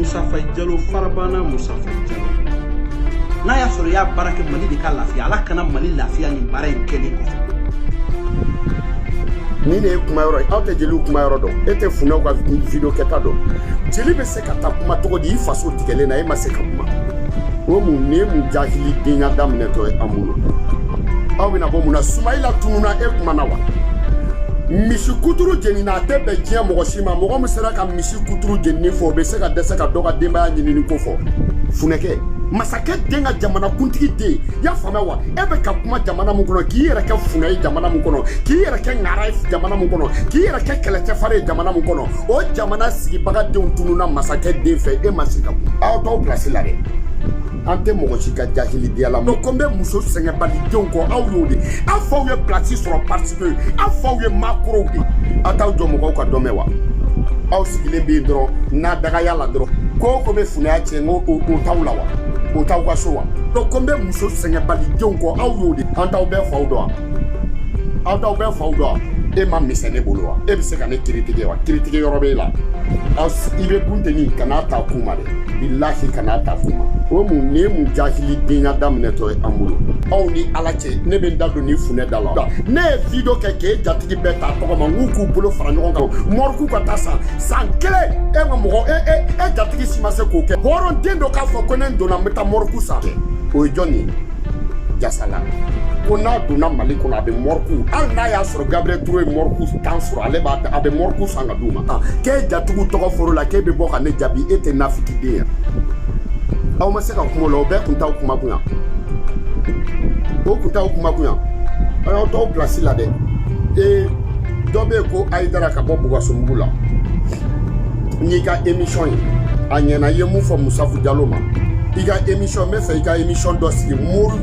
Moussa Faye Diallo farabana Moussa Faye Diallo n'a y'a sɔrɔ i y'a baara kɛ Mali de ka lafiya Ala kana Mali lafiya nin baara in kɛlen kɔfɛ ni ne ye kuma yɔrɔ ye aw tɛ jeliw kuma yɔrɔ dɔn e tɛ funɛw ka video kɛta dɔn jeli bɛ se ka taa kuma cogo di i faso tigɛlen na e ma se ka kuma o mun nin ye mun jahili denya daminɛtɔ ye an bolo aw bɛna bɔ mun na sumayila tununna e kumana wa misi kuturu jenina a tɛ bɛn diɲɛ mɔgɔ si ma mɔgɔ min sera ka si kuturu jenini fɔ o bɛ se ka dɛsɛ ka dɔ ka denbaya ɲinini ko fɔ funɛkɛ masakɛ den ka jamana kuntigi den y'a faamuya wa e bɛ ka kuma jamana min kɔnɔ k'i yɛrɛ kɛ funɛ ye jamana min kɔnɔ k'i yɛrɛ kɛ ŋara ye jamana min kɔnɔ k'i yɛrɛ kɛ kɛlɛcɛfari ye jamana min kɔnɔ o jamana sigibaga denw tununna masakɛ den fɛ e ma se ka kuma aw t'aw pilasi la dɛ an tɛ mɔgɔ si ka jahili denya lamɛn ko n bɛ muso sɛgɛnbalidenw kɔ aw y'o de aw faw ye pilasi sɔrɔ parisike aw faw ye makorow de aw t'aw jɔ mɔgɔw ka dɔ mɛn wa aw sigilen bɛ yen dɔrɔn n'a dagaya la dɔrɔn ko o ko bɛ funɛya tiɲɛ n ko o t'aw la wa o t'aw ka so wa ko n bɛ muso sɛgɛnbalidenw kɔ aw y'o de an t'aw bɛɛ faw dɔn wa aw t'aw bɛɛ faw dɔn wa e ma misɛn ne bolo wa e bɛ se ka ne kiritike wa kiritike yɔrɔ b'e la i bɛ dun tɛ min ka n'a ta kun ma dɛ bilahi kana ta f'u ma o mun nin ye mun jahili denya daminɛtɔ ye an bolo aw ni ala cɛ ne bɛ n da don ni funɛ da la ne ye video kɛ k'e jatigi bɛɛ ta tɔgɔ ma n k'u k'u bolo fara ɲɔgɔn kan mɔriku ka taa san san kelen e ka mɔgɔ e e e jatigi si ma se k'o kɛ hɔrɔnden dɔ k'a fɔ ko ne donna n bɛ taa mɔriku san o ye jɔn ye jasala ko n'a donna mali kɔnɔ a bɛ mɔriku hali n'a y'a gabriel ture ye mɔriku tan sɔrɔ ale b'a a bɛ mɔriku san ka d'u ma ah, k'e jatigiw tɔgɔ foro la k'e bɛ bɔ ka ne jaabi e tɛ nafikiden ye aw ma se ka kuma o la o bɛɛ kuntaw kuma kun yan o kuntaw kuma kun yan aw y'aw to aw pilasi la dɛ ee dɔ bɛ yen ko hayidara ka bɔ bugasomugu la n'i ka emisɔn ye a ɲɛna i ye mun fɔ musafu jalo ma i ka emisɔn n b'a fɛ i ka emisɔn dɔ sigi mori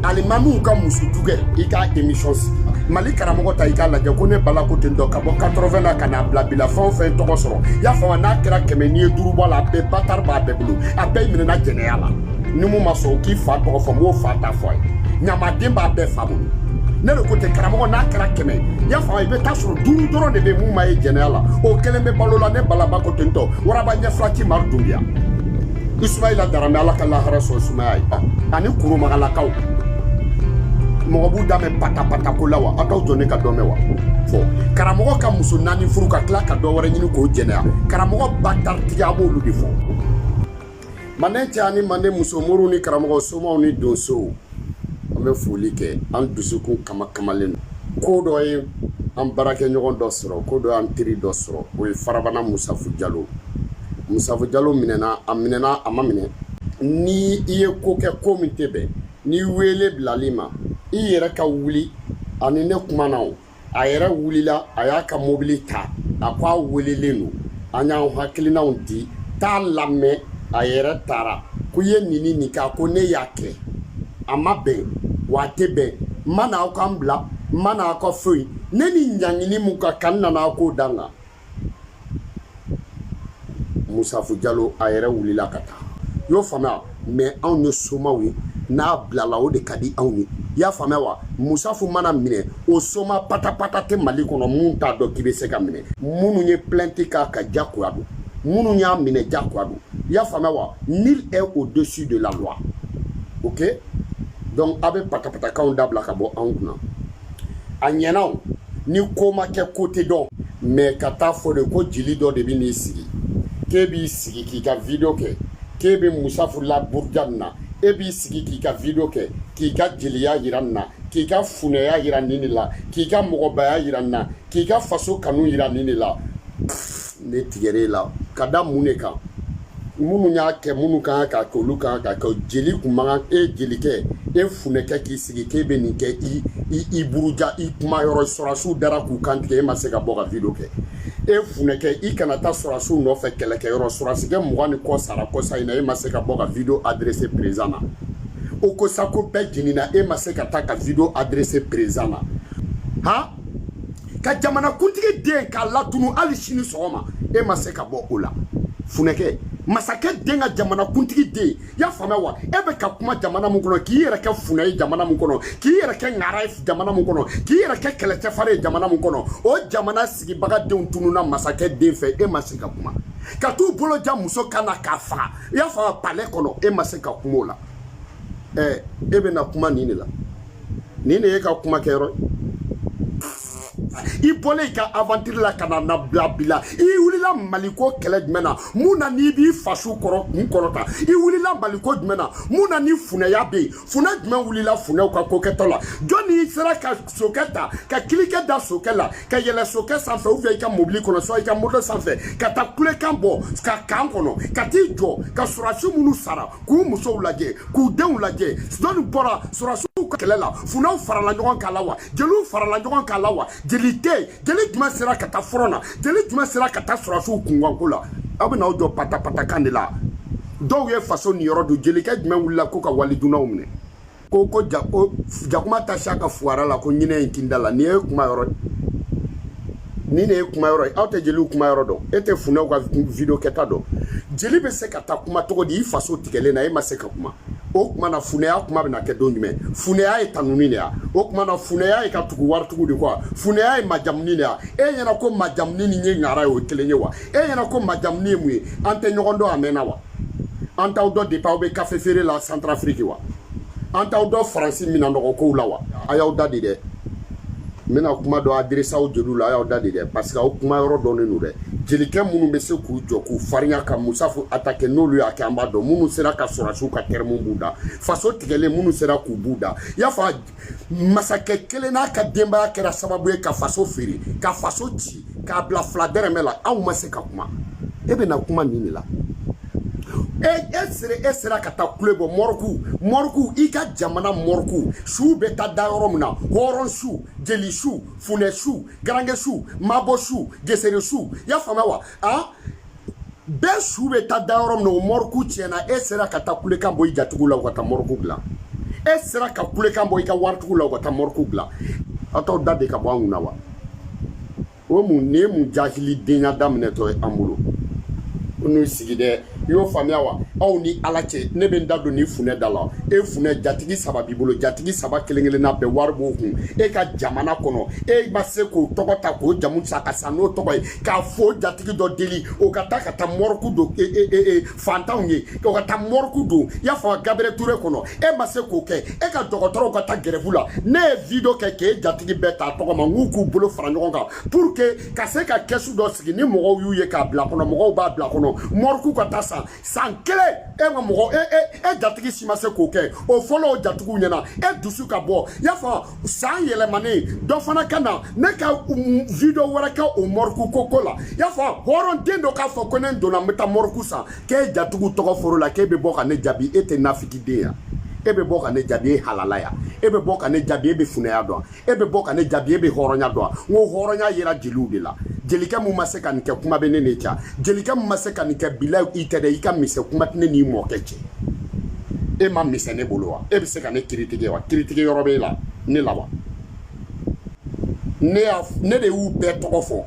alimamiw ka muso jukɛ i ka émission sigi mali karamɔgɔ ta i k'a lajɛ ko ne bala ko ten dɔ ka bɔ 80 na ka na bila bila fɛn o fɛn tɔgɔ sɔrɔ i y'a faamu n'a kɛra kɛmɛ n'i ye duuru bɔ a la a bɛɛ batari b'a bɛɛ bolo a bɛɛ minɛna jɛnɛya la ni min ma sɔn k'i fa tɔgɔ fɔ n b'o fa ta fɔ a ye ɲamaden b'a bɛɛ fa bolo ne de ko ten karamɔgɔ n'a kɛra kɛmɛ i y'a faamu i bɛ taa sɔrɔ duuru dɔrɔn de bɛ min ma ye jɛnɛya la o kelen bɛ balo la ne balaba ko ten tɔ waraba ɲɛfila ti mari dunbiya Isumayila Darame Ala ka lahara sɔn sumaya ye ani Koromagalakaw mɔgɔ b'u da mɛn patapata ko la wa aw t'aw jɔ ne ka dɔ mɛn wa fɔ karamɔgɔ ka muso naani furu ka tila ka dɔ wɛrɛ ɲini k'o jɛnɛya karamɔgɔ bataritigi a b'olu de fɔ manden cɛ ani manden muso moriw ni karamɔgɔ somaw ni donsow An bɛ foli kɛ an dusukun kamakamalen don. Ko dɔ ye an baarakɛɲɔgɔn dɔ sɔrɔ, ko dɔ y'an teri dɔ sɔrɔ, o ye farabana Musafu Jalo. Musafu Jalo minɛna, a minɛna, a ma minɛ. Ni i ye ko kɛ ko min tɛ bɛn, ni weele bilala i ma, i yɛrɛ ka wuli a ni ne kumana o. a yɛrɛ wulila a y'a ka mobili ta a ko a welelen don an y'an hakilinaw di t'a lamɛn a yɛrɛ taara ko i ye nin ni nin kɛ a ko ne y'a kɛ a ma bɛn wa a tɛ bɛn n ma na aw ka n bila n ma na aw ka foyi ne ni ɲangini min ka kan n nana aw k'o da n kan musafu jalo a yɛrɛ wulila ka taa i y'a faamuya mɛ anw ye somaw ye n'a bilala o de ka di anw ye i y'a faamuya wa musafu mana minɛ o soma patapata tɛ mali kɔnɔ min t'a dɔn k'i bɛ se ka minɛ minnu ye plainte k'a kan jakoya don minnu y'a minɛ jakoya don i y'a faamuya wa nul n'est au dessus de la loi ok donc a bɛ patapatakanw dabila ka bɔ anw kunna a ɲɛna o ni ko ma kɛ ko tɛ dɔn mɛ ka t'a fɔ de ko jeli dɔ de bɛ n'i sigi k'e b'i sigi k'i ka video kɛ k'e bɛ musafu la buruja nin na e b'i sigi k'i ka video kɛ k'i ka jeliya yira nin na k'i ka funɛya yira nin de la k'i ka mɔgɔbaya yira nin na k'i ka faso kanu yira nin de la ne tigɛra e la ka da mun de kan minnu y'a kɛ minnu kan k'a kɛ olu kan k'a kɛ jeli kun man kan e jelikɛ e funɛkɛ k'i sigi k'e bɛ nin kɛ i i i buruja i kuma yɔrɔ sɔrɔsiw dara k'u kan tigɛ e ma se ka bɔ ka video kɛ e funɛkɛ i kana taa sɔrɔsiw nɔfɛ kɛlɛkɛ yɔrɔ sɔrɔsikɛ mugan ni kɔ sara kɔsa in na e ma se ka bɔ ka video adresse président na ogosagu bɛɛ jenina e ma se ka taa ka video adresse président na han ka jamanakuntigi den k'a latunu hali sini sɔgɔma e ma se ka bɔ o la funɛkɛ masakɛ den ka jamanakuntigi den i y'a faamuya wa e bɛ ka kuma jamana min kɔnɔ k'i yɛrɛ kɛ funɛ ye jamana min kɔnɔ k'i yɛrɛ kɛ ŋara ye jamana min kɔnɔ k'i yɛrɛ kɛ kɛlɛcɛfari ye jamana min kɔnɔ o jamana sigibaga denw tununna masakɛ den fɛ e ma se ka kuma ka t'u bolo ja muso kan na k'a faga i y'a faamuya palɛ kɔnɔ e ma se ka kuma o la ɛɛ e bɛna kuma nin de la nin de y'e ka kuma kɛ yɔrɔ i bɔlen i ka avantiri la ka na n'a bila bi la i wulila maliko kɛlɛ jumɛn na mun na n'i b'i faso kɔrɔ kun kɔrɔta i wulila maliko jumɛn na mun na ni funɛya bɛ yen funɛ jumɛn wulila funɛw ka ko kɛtɔ la jɔni sera ka sokɛ ta ka kilikɛ da sokɛ la ka yɛlɛ sokɛ sanfɛ ou bien i ka mobili kɔnɔ soit i ka moto sanfɛ ka taa kulekan bɔ ka kan kɔnɔ ka t'i jɔ ka sɔrɔdasi minnu sara k'u musow lajɛ k'u denw lajɛ sidɔni bɔra sɔrɔsiw ka kɛlɛ la funɛw farala ɲɔgɔn k'a la wa jeliw farala ɲɔgɔn k'a la wa jeli tɛ yen jeli jumɛn sera ka taa fɔrɔn na jeli jumɛn sera ka taa sɔrɔsiw kunkanko la aw bɛna aw jɔ patapatakan de la dɔw ye faso niyɔrɔ dun jelikɛ jumɛn wulila ko ka waridunnaw minɛ ko ko ja ko jakuma tɛ sa ka fuwara la ko ɲinɛ in kinda la ni ye kuma yɔrɔ ni ne ye kuma yɔrɔ ye aw tɛ jeliw kuma yɔrɔ dɔn e tɛ funɛw ka video kɛta dɔn jeli bɛ se ka taa kuma cogo di i faso tigɛlen na e ma se ka kuma o kuma na funɛya kuma bɛna kɛ don jumɛn funɛya ye tanuni de ya o kuma na funɛya ye ka tugu waritigiw de kɔ funɛya ye majamuni de ya e ɲɛna ko majamuni ni ye ɲara ye o kelen ye wa e ɲɛna ko majamuni ye mun ye an tɛ ɲɔgɔn dɔn a mɛnna wa an t'aw dɔn depuis aw bɛ kafe feere la santarafiriki wa an t'aw dɔn faransi minan nɔgɔ kow la wa a y'aw da de dɛ n bɛna kuma dɔ adirese aw jeliw la a y'aw da de dɛ parce que aw kuma yɔrɔ dɔnnen don dɛ jelikɛ minnu bɛ se k'u jɔ k'u farinya ka musafu atake n'olu y'a kɛ an b'a dɔn minnu sera ka sɔrɔdasiw ka tɛrɛmu b'u da faso tigɛlen minnu sera k'u b'u da y'a fɔ masakɛ kelen n'a ka denbaya kɛra sababu ye ka faso feere ka faso ci k'a bila fila dɛrɛmɛ la aw ma se ka kuma e bɛna kuma nin de la e e sere e sera ka taa kule bɔ mɔriku mɔriku i ka jamana mɔriku suw bɛ taa da yɔrɔ min na hɔrɔn su jeli su funɛ su garange su mabɔ su gesere su y'a faamuya wa a bɛɛ su bɛ taa da yɔrɔ min na o mɔriku tiɲɛna e sera ka taa kulekan bɔ i jatigiw la u ka taa mɔriku dilan e sera ka kulekan bɔ i ka waritigiw la u ka taa mɔriku dilan aw t'aw da de ka bɔ an kun na wa o mun nin ye mun jahilidenya daminɛtɔ ye an bolo ko n'u sigi dɛ i y'o faamuya wa aw ni ala cɛ ne bɛ n da don ni funɛ da la e funɛ jatigi saba b'i bolo jatigi saba kelen kelenna bɛɛ wari b'o kun e ka jamana kɔnɔ e ma se k'o tɔgɔ ta k'o jamu sa ka sa n'o tɔgɔ ye k'a fo jatigi dɔ deli o ka taa ka taa mɔrɔku don e, e, e, e, fantanw ye o ka taa mɔrɔku don i y'a fɔ gabriel ture kɔnɔ e ma se k'o kɛ e ka dɔgɔtɔrɔw ka taa gɛrɛfu la ne ye video kɛ k'e jatigi bɛɛ ta tɔgɔ ma n k'u k'u bolo fara ɲɔgɔn kan pour que ka se ka kɛsu dɔ sigi ni mɔgɔw y'u ye k'a bila kɔnɔ mɔgɔw b'a bila kɔnɔ mɔrɔku ka taa san san kelen e ma mɔgɔ e e e jatigi si ma se k'o kɛ o fɔlɔ o jatigiw ɲɛna e dusu ka bɔ y'a fɔ san yɛlɛmanen dɔ fana ka na ne ka video wɛrɛ kɛ o mɔriku ko ko la y'a fɔ hɔrɔnden dɔ k'a fɔ ko ne donna n bɛ taa mɔriku san k'e jatigiw tɔgɔ fɔr'o la k'e bɛ bɔ ka ne jaabi e tɛ nafigiden ya e bɛ bɔ ka ne jaabi e halala ya e bɛ bɔ ka ne jaabi e bɛ funɛya dɔn e bɛ bɔ ka ne jaabi e bɛ hɔrɔnya dɔn n ko hɔrɔnya yera jeliw de la jelikɛ mun ma se ka nin kɛ kuma bɛ ne n'e cɛ wa jelikɛ mun ma se ka nin kɛ bila i tɛ dɛ i ka misɛn kuma tɛ ne n'i mɔkɛ cɛ e man misɛn ne bolo wa e bɛ se ka ne kiritigɛ wa kiritigɛ yɔrɔ b'e la ne la wa ne y'a ne de y'u bɛɛ tɔgɔ fɔ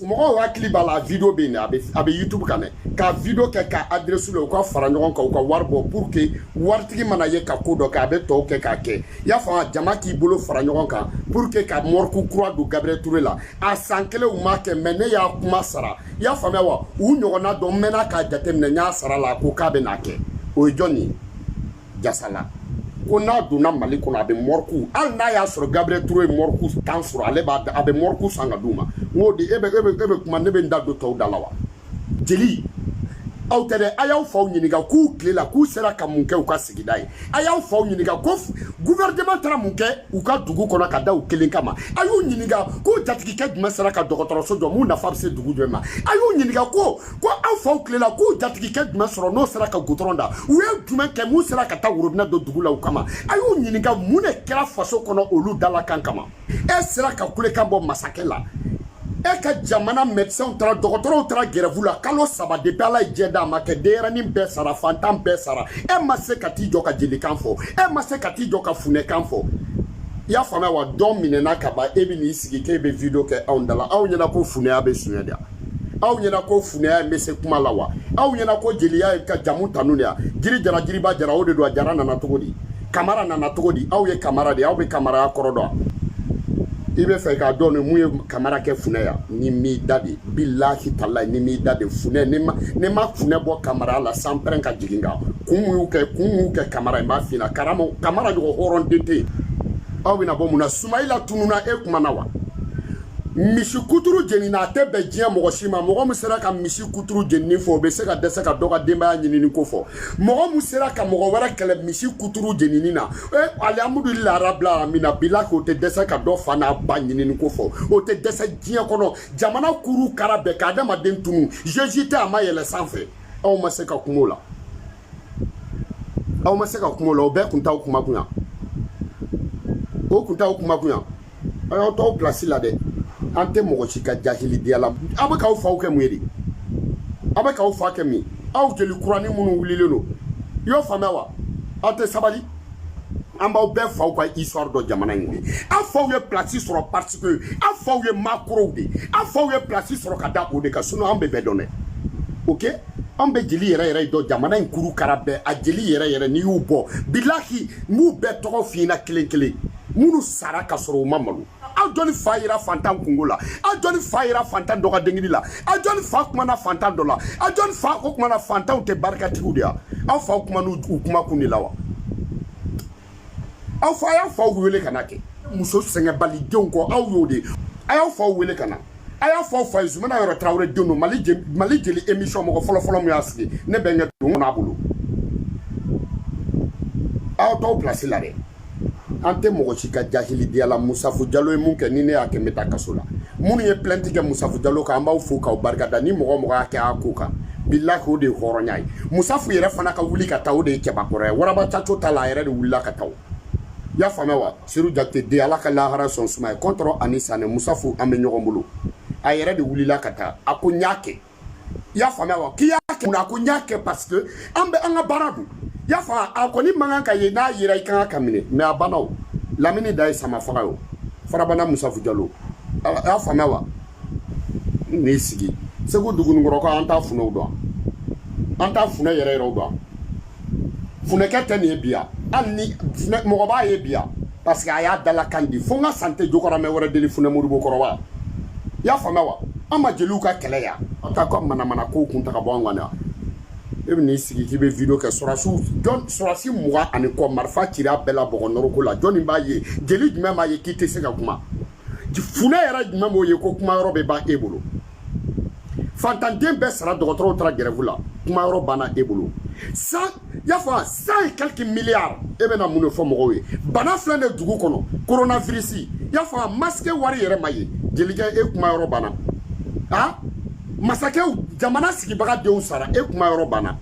mɔgɔw hakili b'a la video bɛ yen a bɛ a bɛ youtube kan dɛ ka video kɛ k'a adresse u la u ka fara ɲɔgɔn kan u ka wari bɔ pour que waritigi mana ye ka ko dɔ kɛ a bɛ tɔw kɛ k'a kɛ y'a faamu jama k'i bolo fara ɲɔgɔn kan pour que ka mɔriku kura don gabriel ture la a san kelen u m'a kɛ mɛ ne y'a kuma sara y'a faamuya wa u ɲɔgɔnna dɔ n mɛnna k'a jateminɛ n y'a sara la ko k'a bɛn'a kɛ o ye jɔn ye jasala ko n'a donna mali kɔnɔ a bɛ mɔriku hali n'a y'a sɔrɔ gabriel ture ye mɔriku tan sɔrɔ ale b'a a bɛ mɔriku san ka d'u ma n k'o di e bɛ e bɛ e bɛ kuma ne bɛ n da don tɔw da la wa jeli aw tɛ dɛ a y'aw faw ɲininka k'u tile la k'u sera ka mun kɛ u ka sigida ye a y'aw faw ɲininka ko guvɛrɛnɛman taara mun kɛ u ka dugu kɔnɔ ka da u kelen kama a y'u ɲininka k'u jatigikɛ jumɛn sera ka dɔgɔtɔrɔso jɔ mun nafa bɛ se dugu jumɛn ma a y'u ɲininka ko ko aw faw tile la k'u jatigikɛ jumɛn sɔrɔ n'o sera ka gudɔrɔn da u ye jumɛn kɛ mun sera ka taa worobinɛ don dugu la u kama a y'u ɲininka mun de kɛra faso kɔnɔ olu dalakan kama e sera ka kulekan bɔ masakɛ la e ka jamana mɛdisɛnw taara dɔgɔtɔrɔw taara gɛrɛvu la kalo saba de ala ye jɛ d'a ma kɛ denyɛrɛnin bɛɛ sara fantan bɛɛ sara e ma se ka t'i jɔ ka jelikan fɔ e ma se ka t'i jɔ ka funɛkan fɔ i y'a faamuya wa dɔn minɛna ka ban e bɛ n'i sigi k'e bɛ video kɛ anw da la aw ɲɛna ko funɛya bɛ suɲɛ de aw ɲɛna ko funɛya in bɛ se kuma la wa aw ɲɛna ko jeliya ye ka jamu tanu de ya jiri jara jiriba jara o de don a jara nana cogo di kamara nana cogo di aw ye kamara de aw bɛ kamaraya kɔrɔ dɔn i bɛ fɛ k'a dɔn ni mun ye kamara kɛ funɛya ni m'i da de bilahi talayi ni m'i da de funɛ n'i ma n'i ma funɛ bɔ kamara la san pɛrɛn ka jigin kan kun mun y'u kɛ kun mun y'u kɛ kamara in b'a f'i ɲɛna karama kamara ɲɔgɔn hɔrɔn den tɛ yen aw bɛna bɔ mun na sumayila tununa e kuma na wa misi kuturu jenina a tɛ bɛn diɲɛ mɔgɔ si ma mɔgɔ min sera ka misi kuturu jenini fɔ o bɛ se ka dɛsɛ ka dɔ ka denbaya ɲinini ko fɔ mɔgɔ min sera ka mɔgɔ wɛrɛ kɛlɛ misi kuturu jenini na e eh, alihamudulila arabila alamina bila k'o tɛ dɛsɛ ka dɔ fa n'a ba ɲinini ko fɔ o tɛ dɛsɛ diɲɛ kɔnɔ jamana kuru kara bɛɛ ka adamaden tun don jesu tɛ a ma yɛlɛ sanfɛ aw ma se ka kuma o la aw ma se ka kuma o la o bɛɛ kun t'aw kuma kun yan o kun t'aw kuma kun yan aw y'aw to aw pilasi la dɛ an tɛ mɔgɔ si ka jahilidiya la aw bɛ k'aw faw kɛ mun ye de aw bɛ k'aw fa kɛ min ye aw jeli kuranin minnu wulilen don i y'o faamuya wa aw tɛ sabali an b'aw bɛɛ faw ka histoire dɔn jamana in de aw faw ye place sɔrɔ parce que aw faw ye makorow de aw faw ye place sɔrɔ ka da o de kan sinon an bɛ bɛɛ dɔn dɛ ok an bɛ jeli yɛrɛ yɛrɛ dɔn jamana in kuru kara bɛɛ a jeli yɛrɛ yɛrɛ n'i y'u bɔ bilahi n b'u bɛɛ tɔgɔ f'i ɲɛna kelen kelen minnu sara ka sɔrɔ u ma malo aw jɔni fa yera fantan kunko la aw jɔni fa yera fantan dɔ ka denkunli la aw jɔni fa kumana fantan dɔ la aw jɔni faw kumana fantanw tɛ barikatigiw de ya aw faw kuma n'u kuma kun de la wa aw fa y'a faw wele ka na kɛ muso sɛgɛnbalidenw kɔ aw y'o de a y'aw faw wele ka na a y'a fɔ fa ye zumana yɔrɔ tarawele den don mali mali jeli émission mɔgɔ fɔlɔfɔlɔ min y'a sigi ne bɛnkɛ don kɔnɔ a bolo aw t'aw pilasi la dɛ an tɛ mɔgɔ si ka jahiliya la musafu jalo ye mun kɛ ni ne y'a kɛ n bɛ taa kaso la minnu ye plainte kɛ musafu jalo kan an b'aw fo k'aw barika da ni mɔgɔ mɔgɔ y'a kɛ a ko kan bilahi o de ye hɔrɔnya ye musafu yɛrɛ fana ka wuli ka taa o de ye cɛbakɔrɔ ye waraba caco ta la a yɛrɛ de wulila ka taa y'a faamuya wa sedu jakite den ala ka lahara sɔn suma ye kɔntɔrɔn ani sanɛ musafu an bɛ ɲɔgɔn bolo a yɛrɛ de wulila ka taa a ko n y'a kɛ i y'a faamuya wa k'i y'a kɛ mun na ko n y'a kɛ parce que an bɛ an ka baara don i y'a faamu a kɔni man kan ka ye n'a yera i kan ka ka minɛ mais a banna o lamini da ye sama faga ye o farabana musafu jalo a y'a faamuya wa n n'i sigi segu dugunikɔrɔkaw an t'a funɛw dɔn an t'a funɛ yɛrɛ yɛrɛw dɔn funɛkɛ tɛ nin ye bi hali ni mɔgɔ b'a ye bi parce que a y'a dalakan di fo n ka sa n tɛ jɔkɔramɛ wɛrɛ deli funɛ modibo kɔrɔba i y'a faamuya wa an ma jeliw ka kɛlɛ ya aw ka ka manamana kow kun ta ka bɔ an kan e bɛ n'i sigi k'i bɛ video kɛ sɔrɔdasiw jɔn sɔrɔdasi mugan ani kɔ marifa cira bɛɛ la bɔgɔ nɔrɔko la jɔni b'a ye jeli jumɛn b'a ye k'i tɛ se ka kuma funɛ yɛrɛ jumɛn b'o ye ko kuma yɔrɔ bɛ ban e bolo fantanden bɛɛ sara dɔgɔtɔrɔw taara gɛrɛfu la kuma yɔrɔ banna e bolo san y'a fɔ cent et quelques milliards e bɛna mun de fɔ mɔgɔw ye bana filɛ de dugu kɔnɔ coronavirus y'a fɔ a masque wari yɛrɛ ma ye jelikɛ e kuma yɔrɔ banna a masakɛw jamana sigibaga denw sara e kuma yɔrɔ banna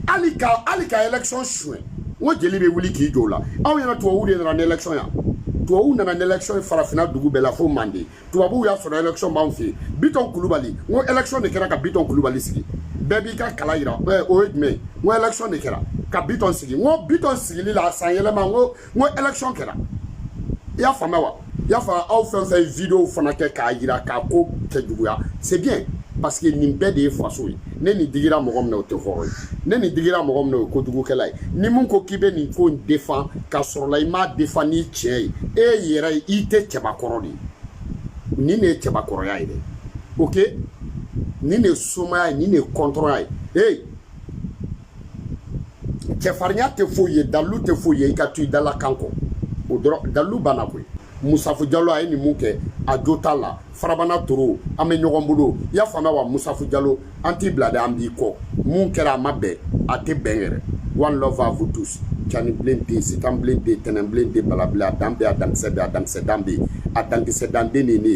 hali ka hali ka élection suɲɛ n ko jeli bɛ wuli k'i jɔ o la aw ɲɛ na tubabuw de nana ni élection ye tubabuw nana ni élection ye farafinna dugu bɛɛ la fo manden tubabuw y'a sɔrɔ élection b'anw fɛ yen bitɔn kulubali n ko élection de kɛra ka bitɔn kulubali sigi bɛɛ b'i ka kala yira eh, o ye jumɛn ye n ko élection de kɛra ka bitɔn sigi n ko bitɔn sigili la san yɛlɛma n ko n ko élection kɛra i y'a faamuya wa i y'a faamuya aw fɛn fɛn ye videow fana kɛ k'a yira k'a ko kɛ juguya c'est bien parce que nin bɛɛ de ye faso ye ni nin digira mɔgɔ min na o tɛ hɔrɔn ye ni nin digira mɔgɔ min na o ye kojugukɛla ye ni mun ko k'i bɛ nin ko in défendre k'a sɔrɔla i m'a défendre ni tiɲɛ ye e yɛrɛ ye i tɛ cɛbakɔrɔ de ye nin de ye cɛbakɔrɔya ye dɛ ok nin de ye somaya ye nin de ye kɔntɔrɔnya ye ee cɛfarinya tɛ foyi ye dalilu tɛ foyi ye i ka to i dalakan kɔ o dɔrɔn dalilu banna koyi musafu jalo a ye nin mun kɛ a jo t'a la farabana toro an bɛ ɲɔgɔn bolo i y'a faamuya wa musafu jalo an t'i bila dɛ an b'i kɔ mun kɛra a ma bɛn a tɛ bɛn yɛrɛ one love à vous tous cani bilen tɛ yen sitan bilen tɛ yen tɛnɛn bilen tɛ yen bala bilen a dan bɛ yen a dankisɛ bɛ yen a dankisɛ dan bɛ yen a dankisɛ dan den de ye ne ye